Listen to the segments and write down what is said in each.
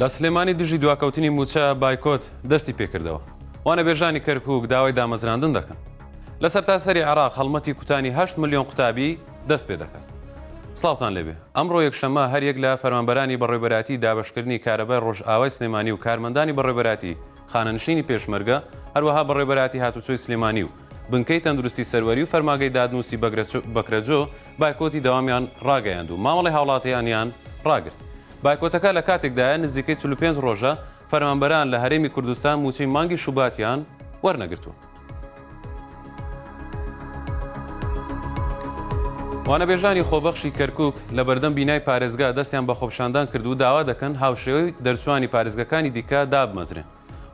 لە سلێمانی دژی دواکەوتنی موچە بایکۆت دەستی پێکردەوە وانە بێژانی کەرکک داوای دامەزراندن دەکەن لە سەرتاسەری عراق هەڵمەتی کوتانی 8 میلیۆن قوتابی دەست پێ دەکەن ساڵتان لەبێ ئەمڕۆ یەکشەمە هەریەک لە فەرمانبەرانی بەڕێبەراتی دابشکردنی کارەبای ڕۆژئاوای سلێمانی و کارمەندانی بەڕێبەراتی خانەنشینی پێشمەرگە، هەروەها بەڕێوبەرایەتی هاتوچۆی سلێمانی و بنکەی تەندروستی سەروەری و فەرماگەی دادنوسی بەکرەجۆ بایکۆتی دەوامیان ڕاگەیاند و مامەڵەی هاوڵاتیانیان ڕاگرت. بایکۆتەکە لە کاتێکدایە نزیکەی چل و پێنج ڕۆژە فەرمانبەران لە هەرێمی کوردستان موچەی مانگی شوباتیان وەرنەگرتووە. وانەبێژانی خۆبەخشی کەرکک لە بەردەم بینای پارێزگا دەستیان بە خۆپشاندان کرد و داوا دەکەن هاوشێوەی دەرچوانی پارێزگەکانی دیکە دابمەزرێن.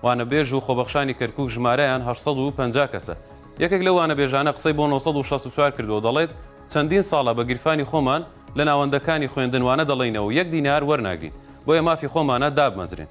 وانەبێژ و خۆبەخشانی کەرکک ژمارەیان 850 کەسە. یەکێک لە وانەبێژانە قسەی بۆ 1964 کردو دەڵێت چەندین ساڵە بە گیرفانی خۆمان لە ناوەندەکانی خوێندن وانە دەڵێینەوە و یەک دینار وەرناگرین بۆیە مافی خۆمانە دابمەزرێن.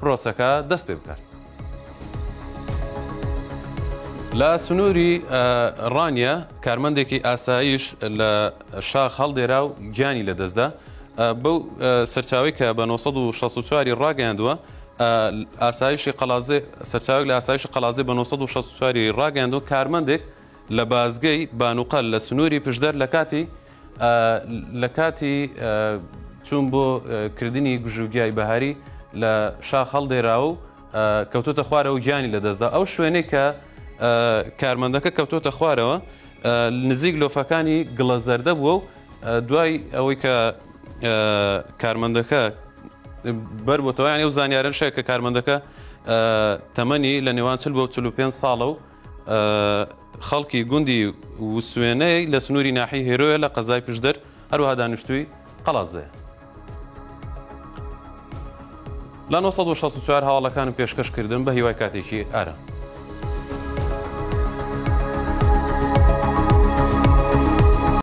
پرۆسەکە دەست پێ بکات. لە سنووری ڕانیە کارمەندێکی ئاسایش لە شاخ هەڵدێرا و گیانی لەدەستدا بەو سەرچاوی کە بە 1964 ڕاگەیاندووە ئاسایشی قەلازێ سەرچاوی لە ئاسایش قەلازی بە 1964 ڕاگەیاندوو کارمەندێک لە بازگەی بانوقەل لە سنووری پشدەر لە کاتی لە کاتی چوون بۆ کردنی گژوگیای بەهاری لە شاخ هەڵدێرا و کەوتۆتە خوارەوە گیانی لە دەستدا ئەو شوێنێک کە کارمەندەکە کەوتۆتە خوارەوە نزیک لۆفەکانی گڵە زەردە بووە و دوای ئەوەی کە کارمەندەکە بەر بۆتەوەیان ئەو زانیارن شێ کە کارمەندەکە تەمەنی لە نێوان چل بۆ 45 ساڵە و خەڵکی گوندی وسوێنەی لە سنووری ناحی هێرۆیە لە قەزای پشدەر هەروها دانیشتووی قەڵازێ. لە 1964 هەواڵەکانم پێشکەش کردم بە هیوای کاتێکی ئارام.